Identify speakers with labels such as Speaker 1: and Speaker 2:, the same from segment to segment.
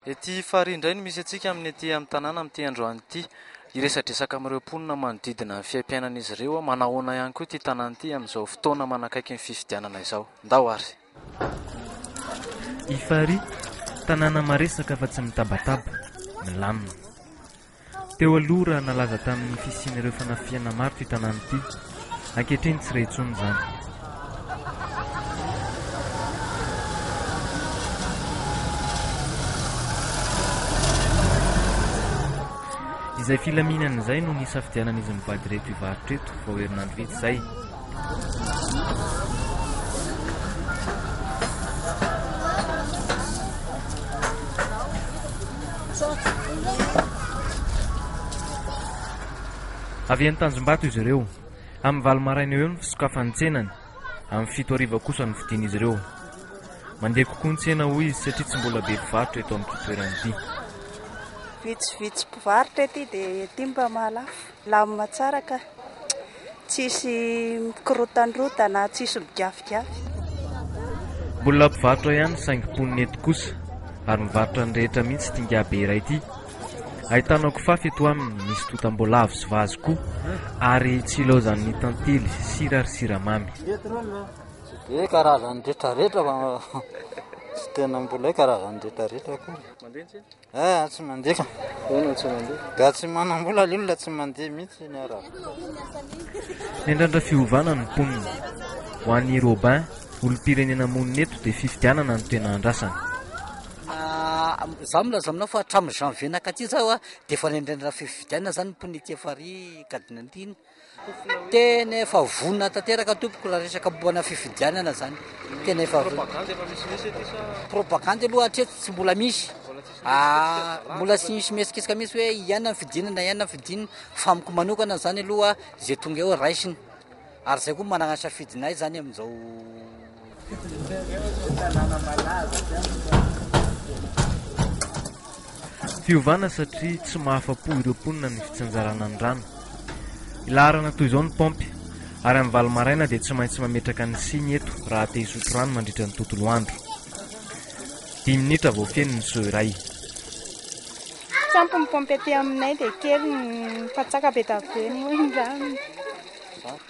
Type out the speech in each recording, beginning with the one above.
Speaker 1: Ety Farihy indray no misy antsika amin'ny ety amin'ny tanàna amin'ity androany ity. Hiresadresaka amin'ireo mponina manodidina ny fiaimpiainan'izy ireo aho. Manahoana ihany koa ity tanàna ity amin'izao fotoana manakaiky ny fifidianana izao. Ndao ary! I
Speaker 2: Farihy, tanàna maresaka fa tsy mitabataba, milamina. Teo aloha raha nalaza tamin'ny fisian'ireo fanafihana maro ity tanàna ity. Ankehitriny tsy re intsony izany. Izay filaminana izay no nisafidianan'izy mivady ireto hivarotra eto vao herinandro vitsy izay. Avy any Tanjombato izy ireo. Amin'ny valo maraina eo eo ny fisokafan'ny tsenany. Amin'ny fito hariva kosa no fidin'izy ireo. Mandeha kokoa ny tsena hoy izy satria tsy mbola be mpivarotra eto amin'ity toerana ity.
Speaker 3: Vitsivitsy mpivarotra ety dia ety mba mahalafo. Milamina tsara ka. Tsisy mikorotandrotana, tsisy migafigafy.
Speaker 2: Mbola mpivarotra ihany saingy mponina eto kosa ary mivarotra ny rehetra mihitsy ity ingahibe iray ity. Ahitana kifafa eto aminy, misy totam-boalavo sy vazy koa ary tsy ilaozan'ny tantely sira ary siramamy. Tsy
Speaker 4: dia karazany retraretra fa tsy tena mbola hoe karazany retraretra akory. Aa
Speaker 1: tsy mandeha ka.
Speaker 4: Ahoana tsy mandeha?
Speaker 1: Ga tsy manam-bola
Speaker 4: le olona tsy mandeha mihitsy ny arabo.
Speaker 2: Hendrandra fiovana ny mponina. Ho an'i Robin, olom-pirenena monina eto dia fifidianana no tena andrasany.
Speaker 5: Izaho milaza aminao fa hatramin'ny janvier nakaty izao dia efa nendrendra fifidianana izany ny mponina ety farihy cardinantine. Tena efa vonona tanteraka tompoko raha resaka momba ana fifidianana zany. Tena efa vonona. Propagande efa misimisy ety sa? Propagande aloha hatreto tsy mbola misy. Ah, mbola tsy misy mihetsiketsika mihitsy hoe iana ny fidina na iana ny fidina fa amiko manokana zany aloha zay tonga eo raisina. Ary zay koa managna safidinay zany amin'izao
Speaker 2: Fiovana satria tsy mahafa-po ireo mponina ny fitsinjarana ny rano. Ilaharana toy izao ny paompy, ary amin'ny valo maraina dia tsy maintsy mametraka ny siny eto raha te hisotro rano mandritra ny tontolo andro. Dimy minitra vao feno ny seau iray. Sampy
Speaker 3: ny paompy aty aminay dia kely ny fatsaka be dia be moa ny rano.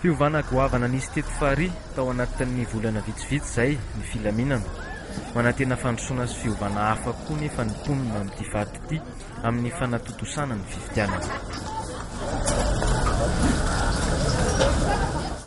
Speaker 2: Fiovana goavana nisy teto farihy tao anatin'ny volana vitsivitsy izay ny filaminana. Manantena fandrosoana sy fiovana hafa koa nefa ny mponina amin'ity faritra ity amin'ny fanatontosana ny fifidianana.